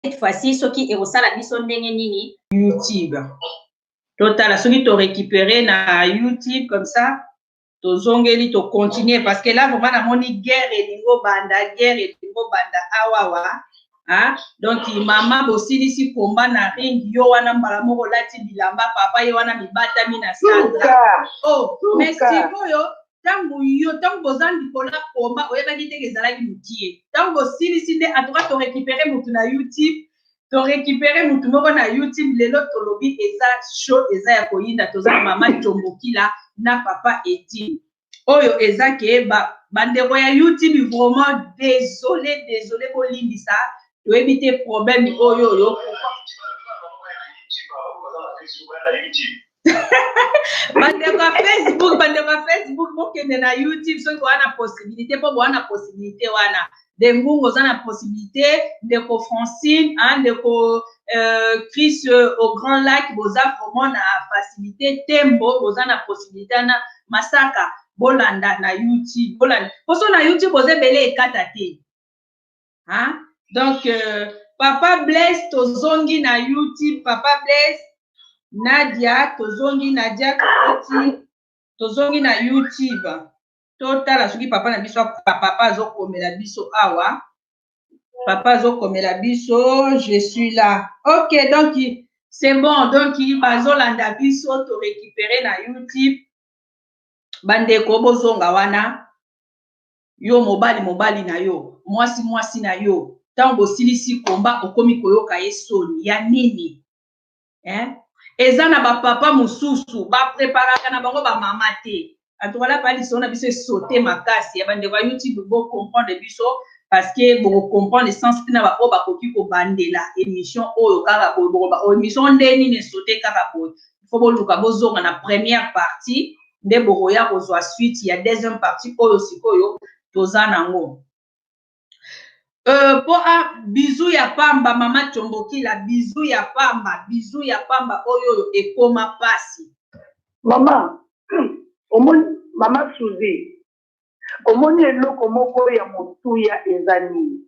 cette fois ci soki ekosala biso ndenge nini youtube totala soki to récupere na youtube comme ça tozongeli tocontinue parce que là vraiment namoni guerre elingo banda guerre elingo banda awawa Hein? donc mama bosilisi komba na ring yo wana mbala moko olati bilamba papa ye wana mibatami na sanda oh mais sikoyo ntango yo ntango boza likolo ya koma oyebaki te ke ezalaki mokie ntango bosilisi nde atuka torekipere motu na youtube torekipere motu moko na youtube lelo tolobi eza show eza ya koyinda toza na mama combokila na papa eti oyo eza ke bandeko ya youtube vraiment desole desole bolimbisa toyebi te problème oyo oyo bandeko ya facebook bandeko ya facebook bokende na youtube soki boa na possibilité mpo boa na possibilité wana de ngungu oza na possibilité ndeko francine hein, ndeko euh, chris euh, au grand lac boza vraiment na facilité tembo boza na possibilité wana masaka bolanda na youtube bolanda mposo na youtube oza ebele ekata te hein? donc euh, papa blaise tozongi na youtube papa blaise nadia tozongi nadia tokoti tozongi na youtube totala soki papa na biso papa azokomela biso awa papa azokomela biso je suis là ok donc c'est bon donc bazolanda biso torécupere na youtube bandeko bozonga wana yo mobali mobali na yo mwasi mwasi na yo ntango bosilisi komba okomi koyoka ye soni ya nini eh? eza na bapapa mosusu bapreparaka na bango bamama te antukalaka ya lisolo na biso esote makasi ya bandeko ya youtube bocomprendre biso parce que bokocomprendre sens ntina baoyo bakoki kobandela émission oyo kaka boye bokoba oyo oh, émission nde nini esote kaka boye fo boluka bozonga na première partie nde bokoya kozwa suite ya deuxième partie oyo sikoyo toza nango euh, po a ah, bizu ya pamba mama combokila bizu ya pamba bizu ya pamba oyo oyo ekoma pasi mama omoni mama suzi omoni eloko moko ya motuya eza nini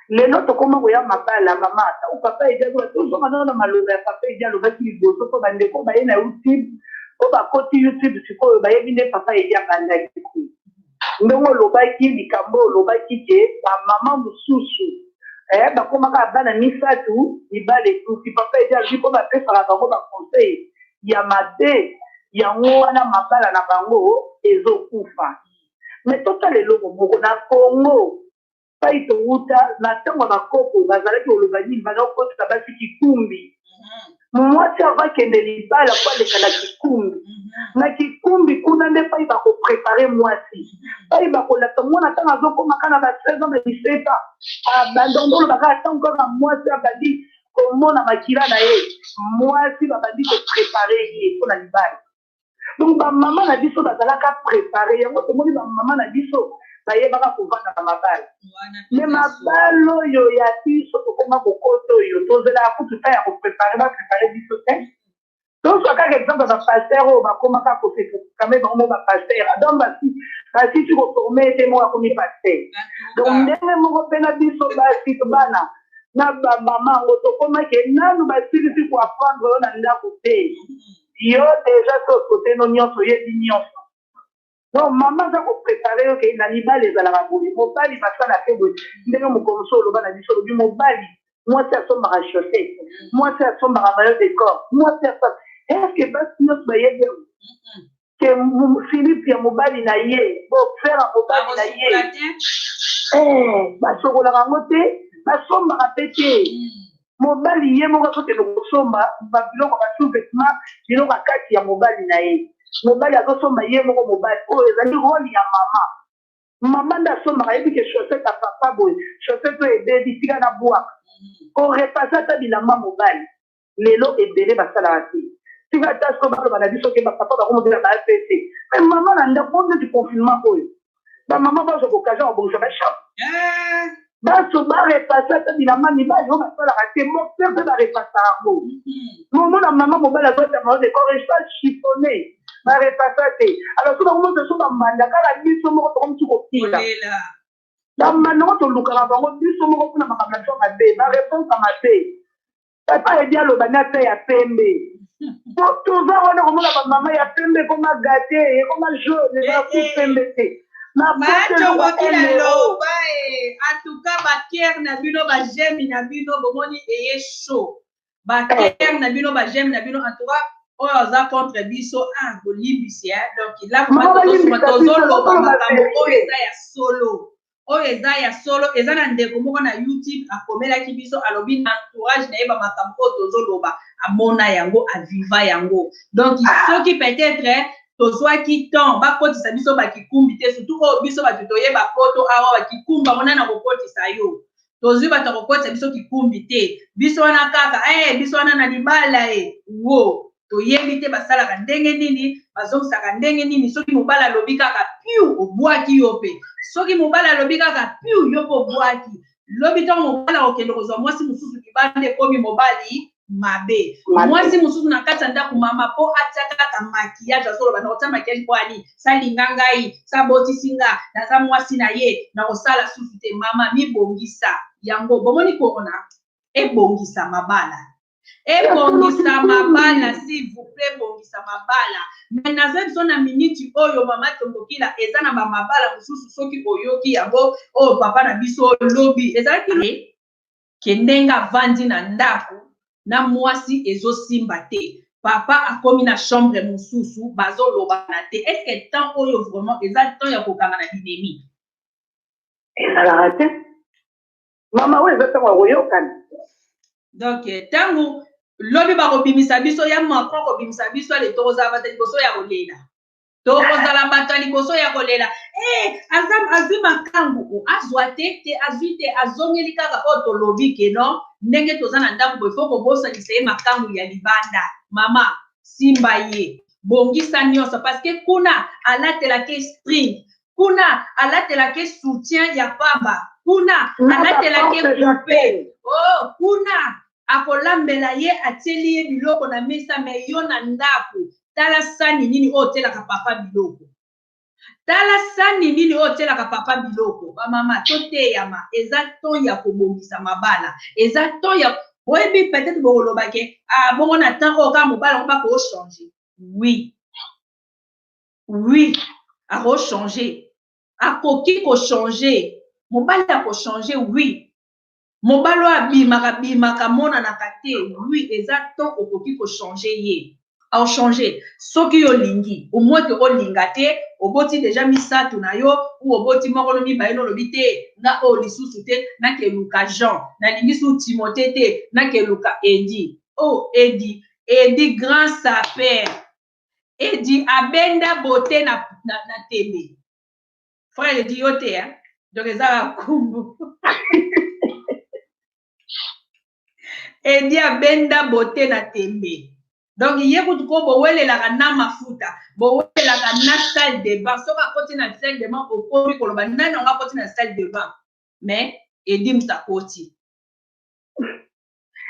lelo tokoma koya mabala mama ata o papa edi aloba tozonga nao na maloba ya papa edi alobaki liboso mpo bandeko baye na youtube mpo bakoti youtube sikoyo bayebi nde papa edi abandaki ku ndenge olobaki likambo olobaki ke bamama mosusu eh, bakomaka bana misato mibale etuki papa edi alobi mpo bapesaka bango baconseil ya mabe yango wana mabala na bango ezokufa me totala eloko moko na congo epai towuta na ntango ya bakoko bazalaki koloba nini banda kokotisa basi kikumbi mhm. mwasi ava kende libala mpo aleka na kikumbi mhm. na kikumbi kuna nde epai bakoprepare mwasi mhm. epai bakolakisa mwana ntango azokomaka na ba 16 ans na 17 ans ah, bandondolo bakaka ntango kaka mwasi abandi komona makila na ye mwasi babandi koprepare ye mpo na libala donc bamama na biso bazalaka prépare yango tomoni bamama na biso bayebaka kovanda na mabala me mabala oyo ya biso tokoma kokoto oyo tozelaka kutu ta ya koprépare baprépare biso te tozwa kaka exemple ya bapaster oyo bakomaka kosekame bango mo bapaster donc basi basisi koforme ete moko akomi paster donc ndenge moko mpe na biso basi bana na bamama yango tokomaki nanu basilisi koaprendre oyo na ndako te yo deja so sote no nyonso oyebi nyonso donc mama aza koprepare yo ke na libala ezalaka boye mobali basala te boye ndenge mokolo mosusu oloba na biso olobi mobali mwasi asombaka chaussette mwasi asombaka mayo de corps mwasi asa eske basi nyonso bayebi yango ke philipe ya mobali na ye bofere ya mobali na ye eh, basokolaka yango te basombaka mpe te hmm. mobali ye moko azokende kosomba babiloko ba sous-vetement biloko ya kati ya mobali na ye mobali azosomba ye moko mobali oyo ezali role ya mama mama nde asombaka yebi ke chaussette ya papa boye chaussette oyo ebebi tika na bwaka korepase ata bilamba mobali lelo ebele basalaka te tika ata so baloba na biso ke bapapa bakomobela ba apc me mama na ndako oyo neti confinement oyo ba mama bazo ko kaza obongisa ba shop eh. baso barepase ata bilamba mibali oyo basalaka te mokte mpe barepasa yango momona mm-hmm. mama mobali azotanga oyo decoration chiffone barepasa te alors so bango moto so bambanda kaka biso moko tokomisi kokila bambanda yango tolukaka bango biso moko mpona makambo na biso mabe bareponse mabe papa edi aloba na ta ya pembe po toza wana komona bamama ya pembe ekoma gate ekoma jaune ezala ku pembe te macokotilaloba atuka bakere na bino bajemi na bino bomoni eye sho bakere na bino bajemi na bino atuka oyo aza contre biso a ah, bolimbisi eh. donc lakomatozoloba makambo oyo eza ya solo oyo eza ya solo eza na ndeko moko na youtube akomelaki biso alobi na entourage na ye bamakambo oyo tozoloba amona yango aviva yango donc soki peut-être tozwaki temps bakotisa biso bakikumbi te surtout oyo biso bato toyeba poto awa bakikumbi yango nani akokotisa yo tozwi bato ya kokotisa biso kikumbi te biso wana kaka e biso wana na libala e wo toyebi te basalaka ndenge nini bazongisaka ndenge nini soki mobali alobi kaka piu obwaki yo mpe soki mobali alobi kaka piu yo mpe obwaki lobi ntango mobali akokende kozwa mwasi mosusu libanda ekomi mobali mabe mwasi mosusu na kati ya ndako mama mpo atya kaka makiyage azoloba nakotya makiyage mpo ali salinga ngai sabotisi nga naza mwasi na ye nakosala susu te mama mibongisa yango bomoni korona ebongisa mabala ebongisa mabala s'il vous plaît ebongisa mabala me naza biso na miniti oyo mama tombokila eza na bamabala mosusu soki oyoki yango oyo oh, papa na biso lobi ezalaki que ndenge avandi na ndaku na muasi ezo simba te papa akomi na chambre mususu bazo lobana te est ce que temps oyo vraiment eza temps ya kokanga na binemi ezalaka te mama oyo eza ntango ya koyokana donc ntango lobi bakobimisa biso ya macron kobimisa biso ale tokozala bata liboso ya kolela tokozala bato ya liboso ya kolela eh, aza azwi makambo o oh, azwa te te azwi te azongeli kaka oyo oh, tolobi ke no ndenge toza na ndako boye fo kobosanisa ye makambo ya libanda mama simba ye bongisa nyonso parce que kuna alatelaka esprit kuna alatelaka soutien ya pamba kuna alatelaka groupe o oh, kuna akolambela ye atieli ye biloko na mesa me yo na ndako tala sani nini oyo otielaka papa biloko tala sani nini oyo otielaka papa biloko bamama toteyama eza temps ya kobongisa mabala eza temps ya boyebi peut-être bokoloba ke ah, bongo na temps oyo kaka mobala yango bakochange oui oui akochange akoki kochange mobali akochange oui mobali oyo abimaka bimaka amonanaka te lui eza to okoki kochange ye ochange soki yo olingi omwete olinga te oboti deja misato na yo u oboti moko no mibale no olobi te nga oyo lisusu te nakeluka jean nalingi su timote te nakeluka edi o oh, edi edi grand saper edi abenda bote na, na, na tembe frère edi yo te hein? donc eza bakumbu edi abenda bote na tembe donc ye kutu ko bowelelaka na mafuta bowelelaka na salle de bain soki akoti na salle de bain okomi koloba nani yango akoti na salle de bain mais edi moto akoti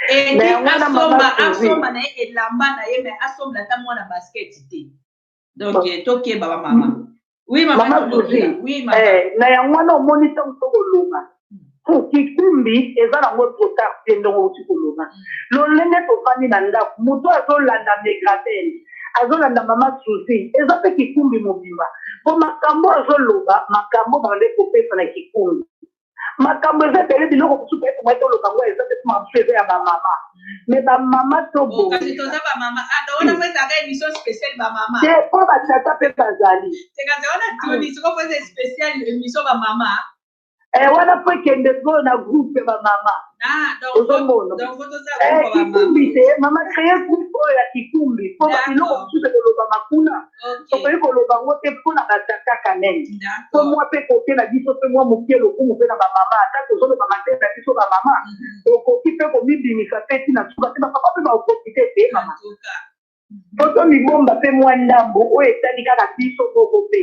edi asomba asomba na ye elamba na ye mais asomba ata mwana basket te donc eh, tokeba ba mama oui mama mama zozi oui mama eh, na yango wana omoni ntango to koloba hmm. kikumbi eza nango trotar te ndongo outi koloba hmm. lolenge tofandi na ndako moto azolanda megrabel azolanda mama susi eza mpe kikumbi mobimba mpo makambo azoloba makambo bande kopesa na kikumbi makambo eza ebele biloko mosusu mpe tomai toloka ngo eza mpe masu eza ya bamama me bamama tobongisa po batata mpe bazali eh, wana mpo ekende sikoyo na groupe bamama Ah, ozomona kikumbi te mama creye groupe oyo ya kikumbi mpo biloko mosusu ekolobama kuna tokoki koloba yango te mpo na batata kanel mpo mwa mpe kote na biso mpe mwa moke lokumu mpe na bamama ata tozoloba matei na biso bamama mhm. okoki mpe komibimisa mpe ntina suka te bapapa mpe baoprofite te mama po tomibomba mpe mwa ndambo oyo etali kaka biso moko mpe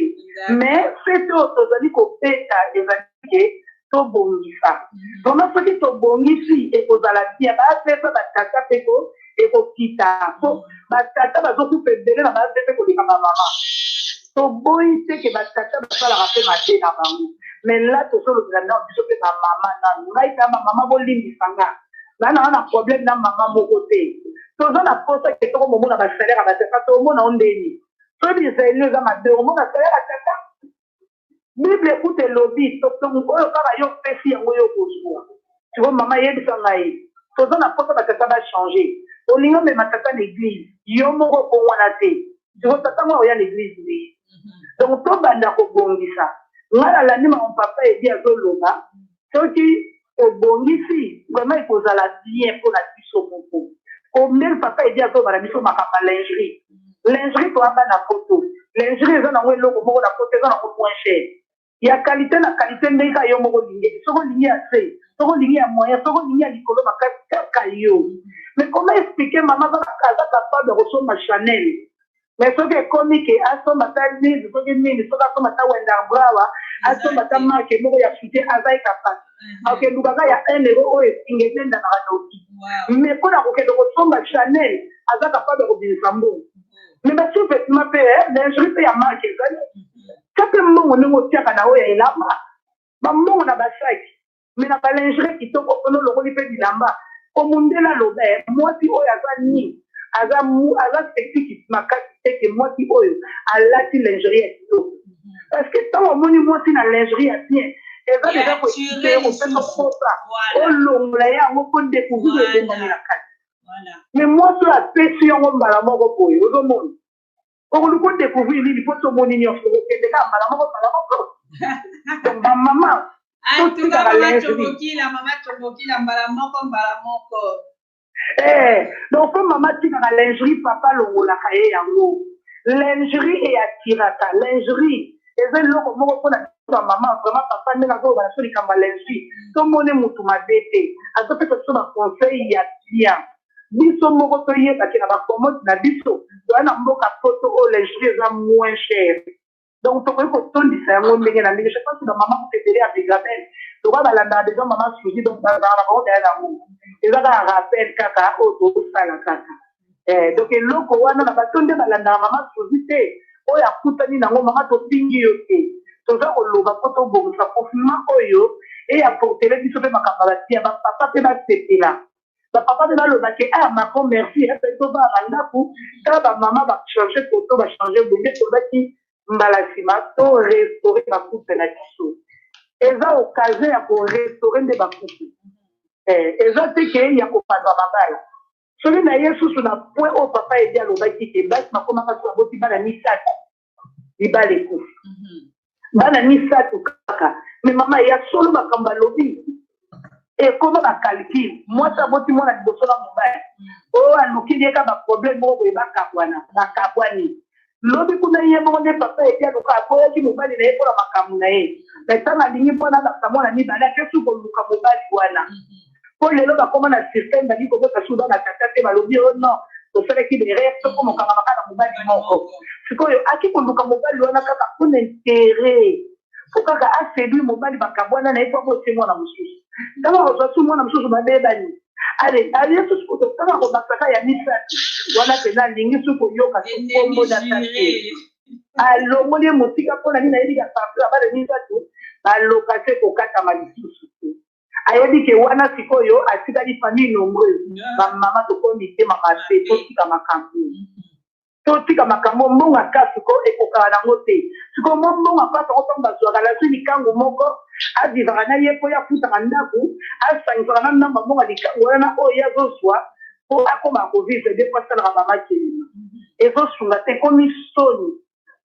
me fete oyo tozali kobeta ezali ke tobongisa vraimen soki tobongisi ekozala bia baapesa batata mpe ko ekokita po batata bazokufa ebele na baase mpe koleka bamama toboyi te ke batata basalaka mpe mabe na bango me la tozolobela nao biso mpe bamama nanu ngai kama mama bolimbisa ngai na na na problème na maman moko te toza na posa ke toko momona ba salaire ya batata tomona o ndeni so bizali eza mabe omona salaire ya tata bible ekuta elobi oyo kaka yo opesi yango yo okozwa tiko mama yebisa ngai toza na posa batata bachange olingi omema tata na eglise yo moko okongwana te tiko tata ngo akoya na eglise nde mhm. donc tobanda kobongisa ngai nalandi maman papa edi azoloba soki obongisi vraiment ekozala bien pona biso moko combien papa edi azoloba na biso makambo ya lingerie lingerie toya bana poto lingerie eza nango eloko moko na poto eza nango moins cher ya qualité na qualité ndenge kaka yo moko olingeli soki olingi ya se soki olingi ya moyen soki olingi ya likolo makasi kaka yo mais comment expliquer mama aza capable ya kosomba chanel mais soki ekomi ke asomba ata live soki nini soki asomba ata wendar brawa asomba ata marke moko ya fite aza ye kapasi akendukaka ya un euro oyo esinga etendanaka noki mais mpo na kokende kosomba chanel aza kapable ya kobimisa mbongo mais basouvetement mpe lingerie mpe ya marke ezali ta mpe mbongo ndenge otiaka na oyo ya elamba bambongo na basaki me na balingere kitoko mpona olokoli mpe bilamba komundela loba eh, mwasi oyo aza nini aza aza spectique makasi te ke mwasi oyo alati lingerie ya kitoko parce que ntango omoni mwasi na lingerie ya bien eza deja koekite kopesa kosa olongola ye yango mpo decouvrir ebongami na kati mais mwasi oyo apesi yango mbala moko boye ozomona okoluka odecouvrir nini mpo tomoni nyonso okokende kaka mbala moko mbala moko donc bamama totikaka lezobokila mama tobokila mbala moko mbala moko eh, donc mpo mama tikaka lingerie papa alongolaka ye yango lingerie eyatiraka lingerie eza eloko moko mpona ba mama vraiment papa ndenge azoloba na so likambo ya lingerie tomoni motu mabe te azopesa biso baconseil ya bien biso moko toyeba ke na ba commode na biso toya na mboka poto oyo lingerie eza moins cher donc tokoki kotondisa yango ndenge na ndenge je pense ba mama kutu ebele ya begabel lokola balandaka deja mama suzi donc bazalaka na bango daya na yango eza kaka rappel kaka oyo tosala kaka eh, donc eloko wana na bato nde balandaka mama suzi te oyo akutani nango mama topingi yo te toza koloba mpo tobongisa confinement oyo eyaportele biso mpe makambo ya batia bapapa mpe basepela bapapa mpe baloba ke ah macron merci epe eh, tobaa na ndako ta bamama bachange foto bachange bonge tozaki mbala nsima to restaure bakupe na biso eza occasion ya korestaure nde bakupe eh, eza te ke ya kopanza mabala soki na ye susu na point oyo papa edi alobaki te basi bakomaka so baboti bana misato libala ekufi mhm. bana misato kaka me mama ya solo makambo alobi ekoma bacalcule mwasi aboti mwana liboso na mobali mhm. oyo alukili ye ka baproblème moko boye bakabwana bakabwani lobi kuna ye moko nde papa ete aluka aboyaki mobali na ye mpo na makambo na ye me ntango alingi mpo na basa mwana mibale akesi koluka mobali wana mhm. mpo lelo bakoma na système balingi kobota su bana tata te balobi o oh non tosalaki berere soko mokangama kaka na mobali moko sikoyo aki koluka mobali wana kaka mpo na interet mpo kaka asedui mobali bakabwana na ye mpo aboti mwana mosusu ntango akozwa su mwana mosusu babebani ale aye susu kotokaka kobasaka ya misato wana mpenza alingi su koyoka su nkombo na sante alongoli ye mosika mpo na nini ayebi ya partout abale misato baloka se kokatama lisusu ayebi ke wana sikoyo atikali famille nombreuse bamama tokomi mitema mabe totika makambo totika makambo mbonga ka sikoyo ekokaka nango te sikoyo mwa mbonga mpasa ngo ntango bazwaka nazwi likangu moko avivaka na ye mpo ye afutaka ndako asangisaka na ndambo mbonga likangu wana na oyo ye azozwa mpo akoma kovivre de mpo asalaka bamakelema ezosunga te ekomi soni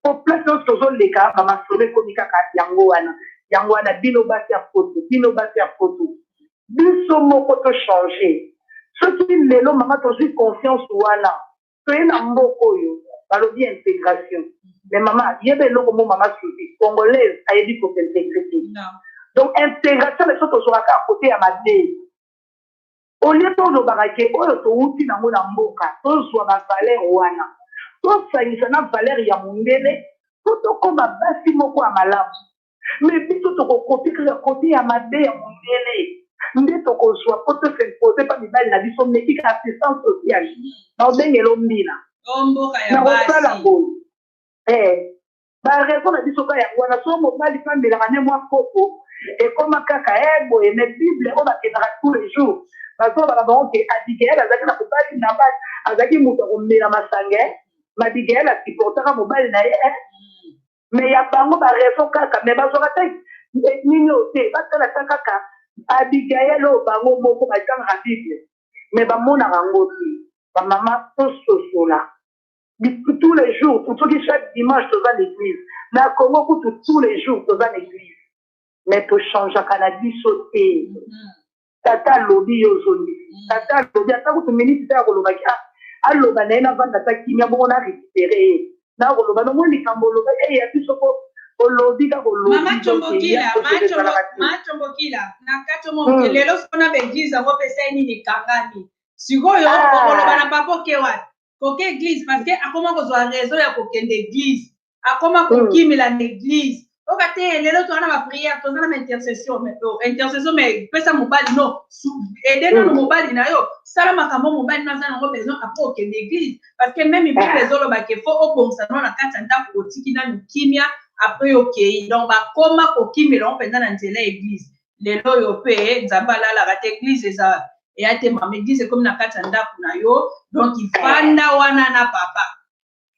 po place nyonso tozoleka ba masolo ekomi kaka yango wana yango wana bino basi ya poto bino basi ya poto biso moko to changer soki lelo mama tozwi conscience wana toye na mboka oyo balobi intégration mais mama yeba eloko mo mama susi congolaise ayebi kosintegre te donc intégration na biso tozwaka kaka kote ya mabe Au lieu to lobaka ke oyo to wuti na ngo na mboka, to zua ba valeurs wana to sangisa na valeurs ya mundele po to koma basi moko ya malamu. Mais biso toko copier kaka cote ya mabe ya mundele nde toko zua po to s'imposer pa mibali na biso mais kika assistance sociale. Nao bengela o mbina. Nako sala boye eh. barezo na biso ka yango wana so mobali mpe amelaka ne mwa kopo ekoma kaka e eh, boye me bible oyo bakendaka tous les jours bazobaka bango ke abigael azalaki na mobali nabal azalaki moto ya komela masange mabigael asupportaka mobali na ye eh. me ya bango barezo kaka me bazwaka te eh, nini oyo te batala ta kaka abigael oyo bango moko batangaka bible me bamonaka yango te bamama tososola tous les jours soki chaque dimanche toza na église na congo kutu tous les jours toza na église mais tochangeaka na biso te tata alobi yo ozongisi mm. tata alobi ata kutu miniti te akolobaki ah, aloba na ye navanda ata kimia bongo na récupere ye nakoloba nomoi likambo oloba eye ya biso po olobi kaka olobimatombokila na kati omoke lelo sona baeglise yango mpe esai nini ekangani sikoyo ah. okoloba na papa oke wapi koke eglise parce que akoma kozwa raison ya kokende eglise akoma kokimela na eglise oka te lelo toza na bapriere toza na baintercession intercession mais pesa mobali no ede nano mobali na yo sala makambo mobali no aza nango besoin apres okende eglise parce que meme bible ezoloba ke fo obongisa no na kati ya ndako otiki nanu kimia apres okei donc bakoma kokimela ngo mpenza na nzela ya eglise lelo oyo mpe nzambe alalaka te eglize eza eya te mama eglize ekomi na kati ya ndako na yo donk ifanda wana na papa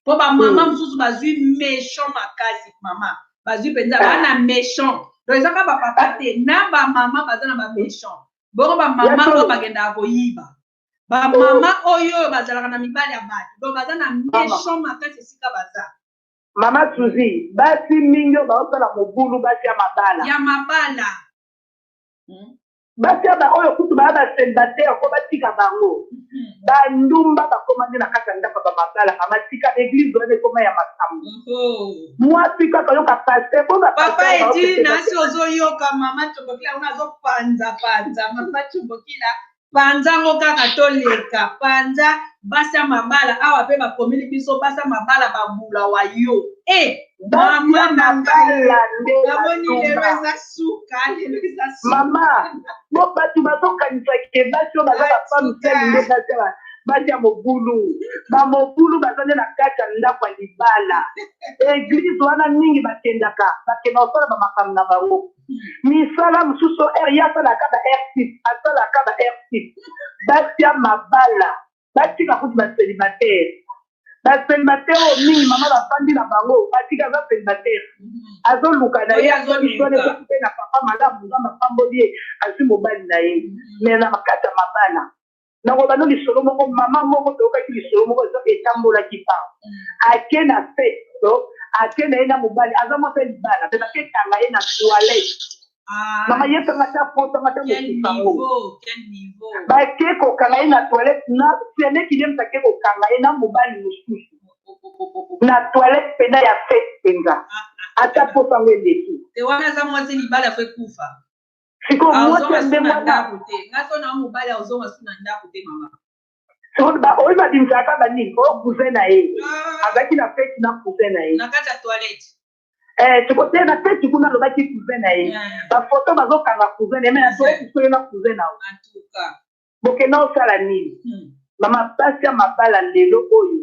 mpo bamama mosusu bazwi méchant makasi mama bazwi mpenza bana méchant donc eza kaka bapapa te na bamama baza na baméchant bongo bamama oyo bakendaka koyiba bamama oyo oyo bazalaka na mibali ya bato donc baza na méchant makasi esika baza Mama Suzi, basi mingi oyo baosala mobulu basi ya mabala. Ya mabala. Hmm. Basi ya baoyo kutu baya baselibatere mpo batika bango. Hmm. Bandumba bakoma nde na kati ya ndako ya bamabala mama tika eglize wana ekoma ya makambo. Mwasi kaka yoka paste mpo Papa Edina si ozoyoka mama Tobokila wana azopanza panza mama Tobokila panza ngo kaka toleka panza basi ya mabala awa mpe bakomeli biso basi ya mabala babula wa yo e eh, mama na ngai namoni lelo eza suka lelo eza sukama bo bato bazokanisa ke basi oyo baza bafamisele nde basi basi ya mobulu bamobulu baza nde na kati ya ndako ya libala eglize wana mingi bakendaka bakenda kosala bamakambo na bango misala mosusu r ye asalaka ba r6 asalaka ba r6 batya mabala batika kutu baselibatere baselibatere oyo mingi mama bafandi na bango batika aza selibatere azoluka na ye azolisonekoki mpe na papa malamu nga mapamboli ye azwi mobali na ye me na kati ya mabala nakoloba no lisolo moko mama moko toyokaki lisolo moko ezo etambolaki pa mm. ake na fete to ake na ye na mobali aza mwasi ya libala mpe baketanga ye na toilette ah. mama yekanga ta potanga ta mokisango bake kokanga ye na toilette na seneki nde mtake kokanga ye na mobali mosusu oh, oh, oh, na toilette mpena ya fete mpenza ah, ah, ata posango eleki te wana aza mwasi libala fo ekufa sikoyo ah, mwasi ya ndenge wana oyo babimisaka kaka banini oyo oh, cousin na ye ah. azalaki na feti na cousin na ye eh, tokoteya na feti kuna alobaki cousin na ye bafoto bazokanga cousin na ye me nasoki soyo na cousin na ye bokenda osala nini hmm. mama basi ya mabala lelo oyo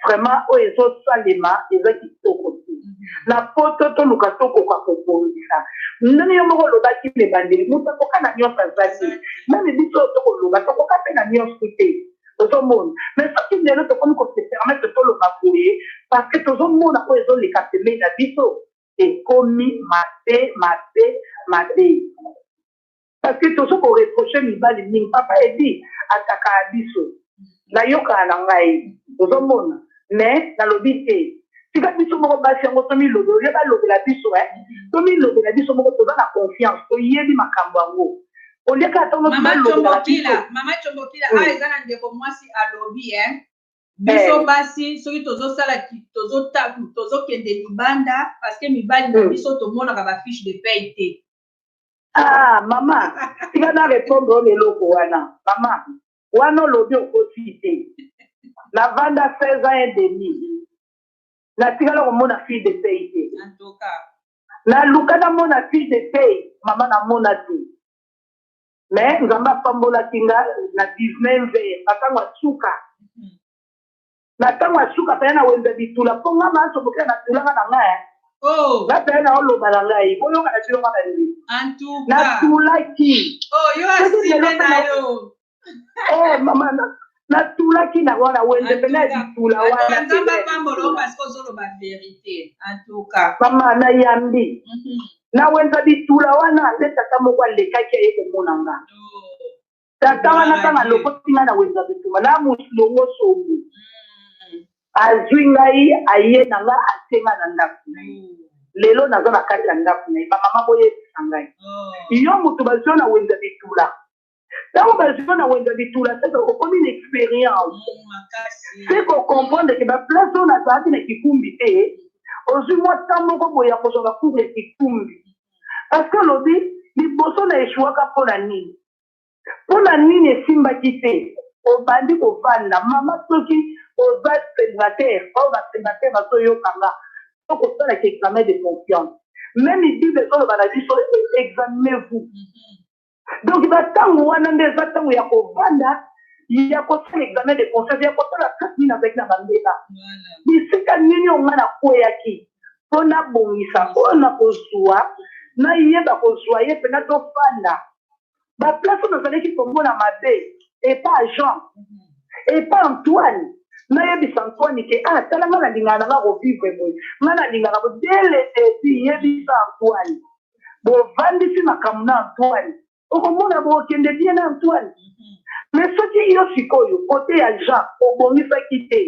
vraiment oyo ezosalema eza kitoko te hmm. na poto toluka tokoka kobongisa ndenge yo moko olobaki na ebandeli moto akoka na nyonso aza te meme biso oyo tokoloba tokoka mpe na nyonso te ozomona mais soki lelo tokomi kosepermete toloba boye parce que tozomona oyo ezoleka pembei na biso ekomi mabe mabe mabe Parce que tozo ko reprocher mibali mingi. Papa Eddy atakaa biso. Nayokaa na ngai. Ozo mona? Mais nalobi te. Tika biso moko basi yango to milobela olie balobela biso eh. To milobela biso moko toza na confiance. Toyebi makambo yango. Olie kaka tango nyonso Mama balobela Chombokila, biso. Mama Chombokila, Oui. ah eza na ndeko mwasi alobi eh. Eh. Biso basi soki tozosala ki- tozota- tozokende libanda parce que mibali na Mm. biso tomonaka ba fiche de paye te. ah mama tika na repondre oyo eloko wana mama wana olobi okosi te navanda 16 ans et demi natikala komona fille de pay te naluka namona fille de pay mama namona te mais nzambe apambolaki nga na 19 ans na ntango ya suka na ntango ya suka pene na wenze bitula mpo nga manso bokela na tulanga na nga eh. oh. na pene na oloba na ngai boyoka na bino nga balingi na tulaki oh, yo asime na yo eh, mama natulaki na wana wenze mpena bitula wananzambe apambolo parceke ozoloba verité antuka mama nayambi mhm. na wenza bitula wana nde tata moko alekaki aye komona nga oh. tata wana kaka alokoti ngai na wenza bitumba na mosilongo songo mm. azwi ngai aye na ngai atie ngai na ndako na ye mm. lelo naza na kati ya ndako na ye bamama boyebisa ngai oh. yo moto bazwi na wenza bitula ntango bazwi na wenza bitula seke okomi na expérience mm, seke okomprendre ke baplace oyo nazalaki na kikumbi te ozwi mwa ntan moko boye ya kozwa bakumu ya kikumbi parce que olobi liboso na eshuaka mpo na nini mpo na nini esimbaki te obandi kovanda mama soki oza célibataire oyo ba célibataire bazoyoka nga to kosalaka examen de confiance meme bible ezoloba na biso examinez vous mhm. donc bantango wana nde eza ntango ya kovanda ya kosala examen de conscience ya kotala kati nini azalaki na bambeba bisika nini onga nakweyaki mpo nabongisa oyo nakozwa nayeba kozwa ye mpena tofanda ba place oyo nazalaki komona mabe epa jean mhm. epa antoine nayebisa antoine ke ah tala nga nalingaka na nga kovivre boye nga nalingaka bo dele epi yebisa antoine bovandisi makambo na antoine okomona bokende bien na antoine mhm. me soki yo sikoyo kote ya jean obongisaki te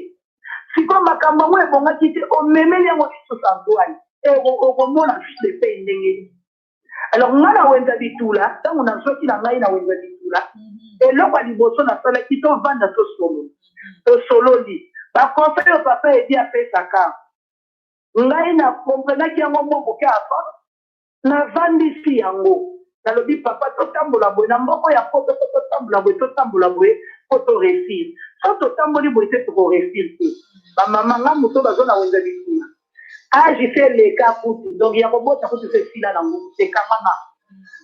sikoyo makambo yango ebongaki te omemeli yango lisusu antoine okomona fils de pei ndenge nini alors ngai na wenza bitula ntango nazwaki na ngai na wenza bitula mhm. eloko ya liboso nasalaki tovanda tosolo mhm. tosololi baconseil oyo papa edi apesaka ngai na komprenaki yango mwa moke apa navandisi yango nalobi papa totambola boye na mboko ya poto po totambola boye totambola boye po toresir so totamboli boye te tokoresir te bamama ngai moto bazwa na wenza bitula age se eleka kutu donc ya kobota kutu se esila na ngo ekamama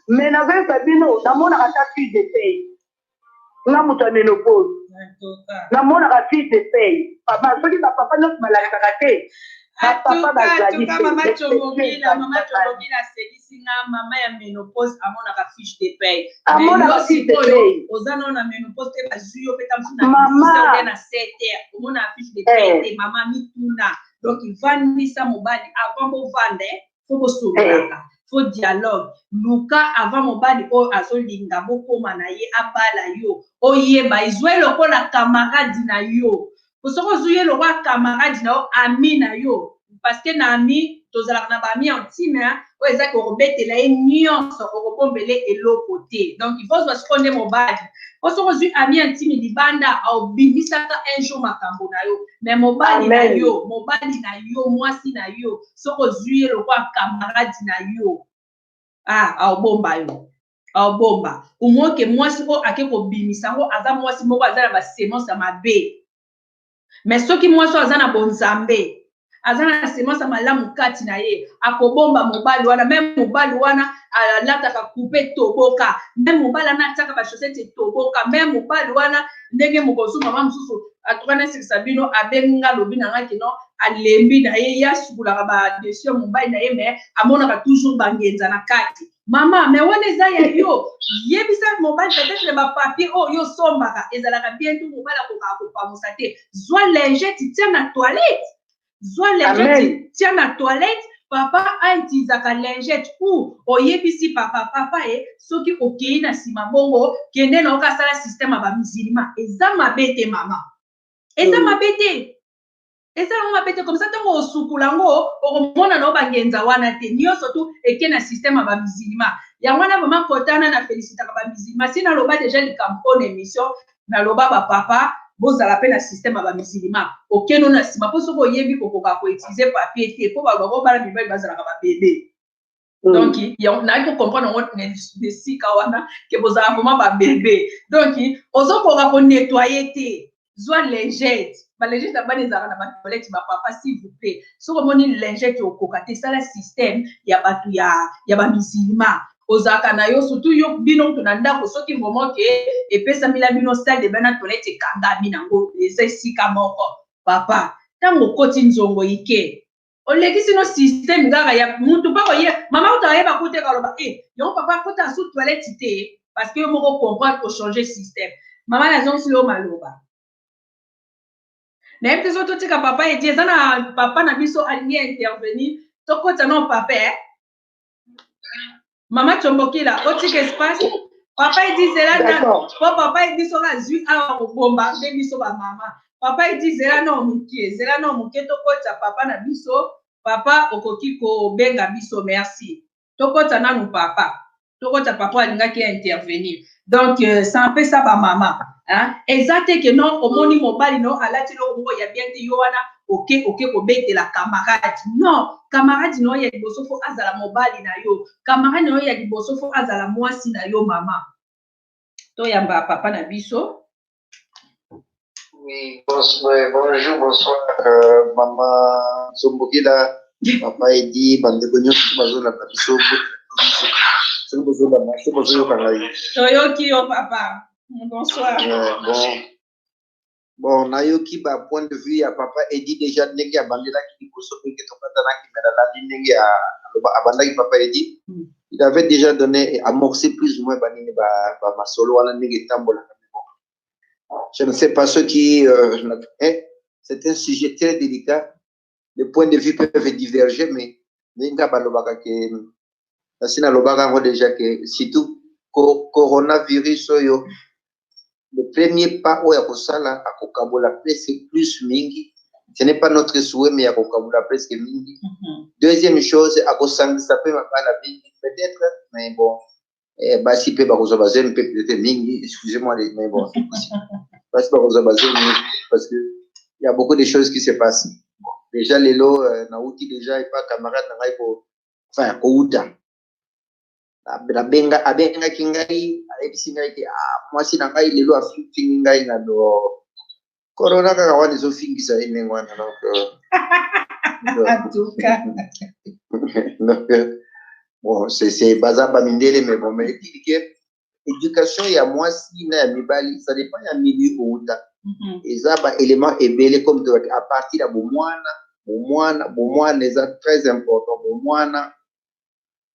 me nazoyeba bino namonaka ata fille de pay nga moto ya menopose namonaka fille de pay papa soki bapapa nyonso balakisaka te bapapa bazali ayebisi nga mama ya menopause amonaka fiche de paye amonaka fiche de paye oza nao na menopause te bazwi yo mpe tamosu na mama na seter omonaka fiche de paye te mama mituna donc vandisa mobali avant bovanda fo bosololaka fo dialogue luka avant mobali oyo azolinga bokoma na ye abala yo oyeba ezwe lokola kamaradi na yo po soki ozwi ye lokola camarade na yo ami na yo parce que na ami tozalaka na baami intime hein, oyo eza ke okobetela ye nyonso okobombele eloko te donc il faut ozwa sikoyo nde mobali po soki ozwi ami intime libanda obimisaka un jour makambo na yo mais mobali na Amen. yo mobali na yo mwasi na yo soki ozwi ye lokola camarade na yo ah aobomba yo obomba umoke mwasi oyo ake kobimisa yango aza mwasi moko aza na basemence ya mabe me soki mwasi oyo aza na bonzambe aza na semence ya malamu kati na ye akobomba mobali wana meme mobali wana alataka kupe toboka meme mobali wana atiaka bashosete toboka meme mobali wana ndenge mokosu mama mosusu atuka nasekisa bino abengi nga lobi na nga kino alembi na ye ye asukulaka badesio ya mobali na ye me amonaka toujours bangenza na kati mama me wana eza ya yo yebisa mobali peut-être bapapier oyo yo osombaka ezalaka bien to mobali akokaka kopamusa te zwa lingete tia na toilette zwa lingete tia na toilette papa aitizaka lingete ou oyebisi papa papa e soki okei na nsima bongo kende na okasala système ya bamisilima eza mabe te mama eza mabe te eza yango mabe te komisa ntango osukula yango okomona na yo bangenza wana te nyonso tu eke na systeme ya bamisilima yango wana vraimen kotana na felicitaka bamisilima si naloba deja likambo oyo na émission naloba bapapa bozala mpe na systeme ya bamisilima okeno na nsima mpo soki oyebi kokoka koutilize papier te mpo bato bakobala mibali bazalaka babebe Mm. donc naye kocomprendre yango nesika wana ke bozala vraimen babebe donc ozokoka konettoye te zwa lingete balingete ya bana ezalaka na batoilette bapapa s'il vous plaît soki omoni lingete okoka te sala système ya bato ya, ya bamisilma ozalaka na yo surtout yo bino kutu na ndako soki momo ke epesamila bino stade ebe na toilette ekangami nango eza esika moko papa ntango okoti nzongo ike olekisi no système kaka ya mutu mpo akoye mama kutu ayeba kute kaloba e eh, yango papa akota su toilette te parce que yo moko comprendre kochange système mama nazongisi yo maloba nayebi te soki totika papa edi eza na papa na biso alingi intervenir tokota no papa eh. mama combokila otika espace papa edi zela na po papa edi soki azwi awa kobomba nde biso bamama papa edi zela nao mokie zela nao mokie tokotisa papa na biso papa okoki kobenga biso merci tokotisa nanu papa tokotisa papa alingaki intervenir donc euh, ça apesa ba mama hein? eza te ke non omoni mobali no alati eloko moko ya bien te yo wana oke oke kobetela camarade non camarade no ya liboso fo azala mobali na yo camarade na yo ya liboso fo azala mwasi na yo mama toyamba papa na biso Oui, bonjour, bonsoir, euh, maman Zombogila, papa Edi, bandeko nyonso bazolanda biso soki bozolanda soki bozoyoka ngai toyoki yo papa bonsoir euh, bon bon nayoki ba point de vue ya papa Edi déjà ndenge abandelaki liboso ndenge tobatanaki me nalandi ndenge abandaki papa Edi hmm. il avait déjà donné amorcé plus ou moins banini ba masolo wana ndenge etambolaka Je ne sais pas ce qui... Euh, eh, c'est un sujet très délicat. Les points de vue peuvent diverger, mais Linda Balobaka qui est... Sina Lobaka déjà que surtout coronavirus oyo le premier pas oyo akosala akokabola presque plus mingi ce n'est pas notre souhait mais akokabola presque mingi mm -hmm. deuxième chose akosangisa mpe mabala mingi peut-être mais bon eh, basi mpe bakozwa bazemi mpe pete mingi excusez moi de mais bon basi bakozwa bazemi parce que il y a beaucoup de choses qui se passent déjà lelo euh, nauti déjà epa camarade na ngai ko enfin kouta nabenga abengaki ngai ayebisi ngai te ah, mwasi na ngai lelo afingi ngai na do corona kaka wana ezofingisa ye ndenge wana donc euh, donc euh, bon c'est baza bamindele mais bon mais etili ke éducation ya mwasi na ya mibali ça dépend ya milieu outa mhm. eza baélément ebele comme tolaki à partir ya bomwana bomwana bomwana eza très important bomwana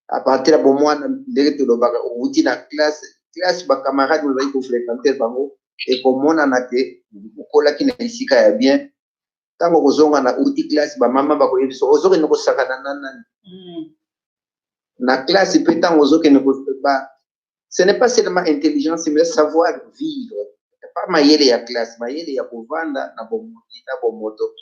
à partir ya bomwana ndenge tolobaka outi na classe classe bacamarade ozali kofréquente bango ekomonana te okolaki na esika ya bien ntango okozonga na outi classe bamama bakoyebisa ozokende kosakana na nani mm. na classe mpe ntango ozokende ce n'est pas seulement intelligence mais savoir vivre pas mayele ya classe mayele ya kovanda na bomoyi na bomoto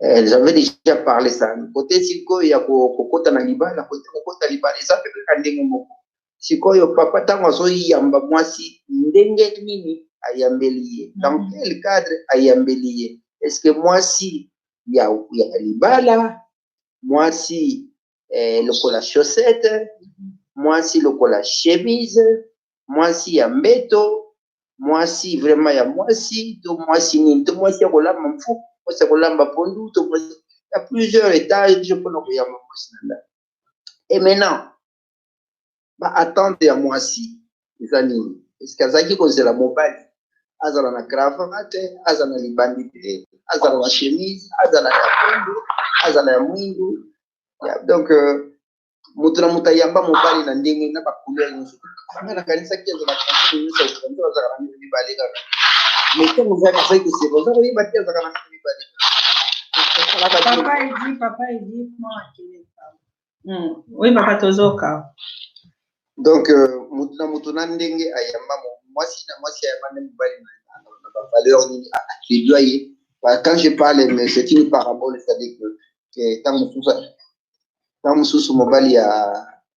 eh, j'avais déjà parlé ça kote sikoyo ya kokota na libala kote kokota libala eza mpe kaka ndenge moko sikoyo papa ntango azoyamba mwasi ndenge nini ayambeli ye dans mhm. quel cadre ayambeli ye est ce que mwasi ya, ya libala mwasi eh, lokola chaussette mwasi lokola chemise mwasi ya mbeto mwasi vraiment ya mwasi to mwasi nini to mwasi ya kolamba mfu mwasi ya kolamba pondu to mwasi ya plusieurs étages mpona koyamba mwasi na ndako et maintenant ba attente ya mwasi eza nini eske azalaki kozela mobali azala na cravate azala na libandi te azala na chemise azala ya pembe azala ya mwindu donc euh, moto na moto ayamba mobali na ndenge na bacouleur nyonso anga nakanisaki azala nyonso azalaka na mito mibale kaka mais ntango ozalaka azali koseka oza koyeba te azalaka na mito mibale papa edi papa edi mwana keleka Hmm. Oui, papa Tozoka. Donc, euh, mutu na mutu na ndenge ayamba mwasi na mwasi ayamba nde mobali na bavaleur nini akedwa ye quand je parle mais c'est une parabole c'est-à-dire que ntango mosusu ntango mosusu mobali ya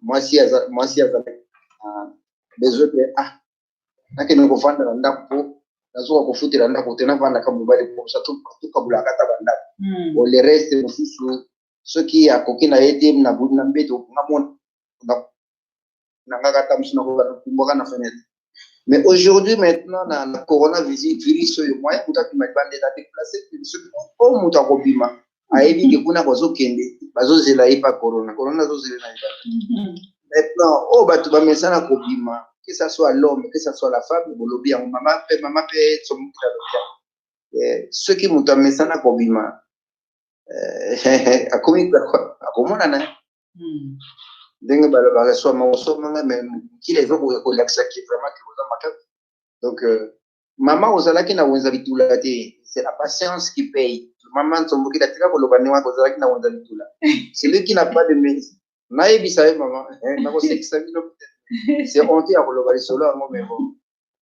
mwasi mwasi azalaki besoin te ah nakende kovanda na ndako mpo nazoka kofutela ndako te navandaka mobali mposa tukabulaka ata bandako o le reste mosusu soki akoki na ye te na budi na mbeto nga mona na nga kata musu na ko na kumbaka na fenêtre mais aujourd'hui maintenant na, na corona virus oyo moyen kuta bima libanda na déplacer soki o mutu akobima ayebi ke kuna bazokende bazozela ye pa corona corona azozela na libanda mm-hmm. maintenant oyo oh, bato bamesana kobima que ça soit l'homme que ça soit la femme bolobi yango mama mpe mama mpe somoki alobi yango soki moto amesana kobima eh, akomi akomonana hmm. ndenge balobaka soma osomanga me mokili ezokoka kolakisa ki vraiment ke oza makasi donc euh, mama ozalaki na wenza bitula te c'est la patience qui paye mama nsombokila tika koloba ndenge wana ozalaki na wenza bitula celui qui n'a pas de mérite nayebisa ye mama eh, nakosekisa bino c'est honte ya koloba lisolo yango mais bon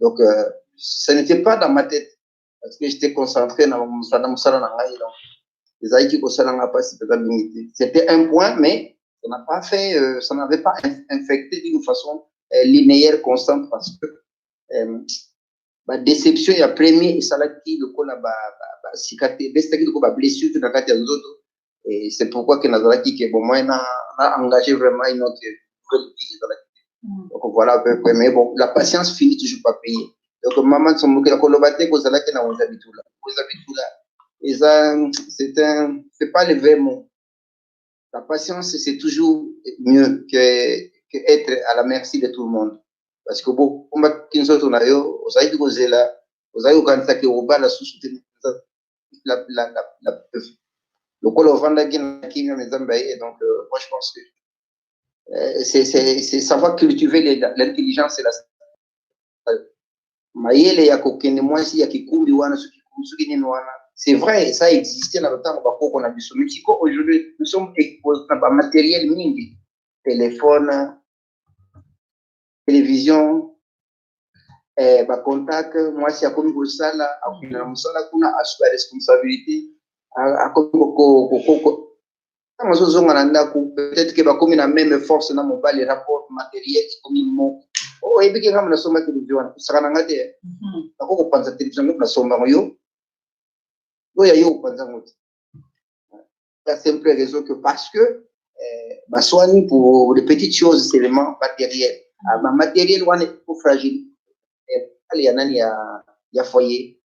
Donc, euh, ce n'était pas dans ma tête. Parce que j'étais concentré dans mon salon, donc ezalaki kosala nga mpasi mpenza mingi te c'était un point mais ça n'a pas fait euh, ça n'avait pas infecté d'une façon euh, linéaire constante parce que euh, badéception ya premier esalaki lokola basika te ebesitaki lokola bablessure te na kati ya nzoto et c'est pourquoi que nazalaki ke bon moyen na na engagé vraiment une autre nouvelle vie ezalaki mm. donc voilà à peu près mais bon la patience finit toujours pas payer donc maman sombokela koloba te kozalaki na wenza bitula wenza bitula eza c'est un c'est pas le vrai mot la patience c'est toujours mieux que que être à la merci de tout le monde parce que bokombaki nzoto na yo ozalaki kozela ozalaki kokanisa ke obala susu te la, la, la, la, lokola ovandaki na kimia na nzambe aye donc euh, moi je pense que euh, c'est c'est- c'est savoir cultiver les- la- l'intelligence et la mayele ya kokende mwasi ya kikumbi wana soki soki nini wana c'est vrai ça existait na lotango bakoko na biso mais siko aujourd'hui nous sommes exposés na bamateriel mingi téléphone télévision eh, bacontact mwasi akomi kosala akokenda na mosala kuna asuki ya responsabilité akomi kokoko ntango azozonga na ndako peut-être ke bakomi na meme force na mobali rapport matériel ekomi moko oyebi oh, ke ngambo nasomba televizio wana kosaka na nga te mhm. nako kopanza televizio ngambo nasomba yango yo oyo ayo kopanza yango te la simple raison que parce que euh, baswani pour de petites choses seulement matériel ah, ba matériel wana eko fragile ale ya nani ya, ya foyer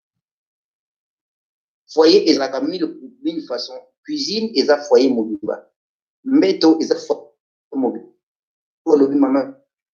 foyer ezalaka mille, mille façon cuisine eza foyer mobimba mbeto eza foyer mobimba olobi mama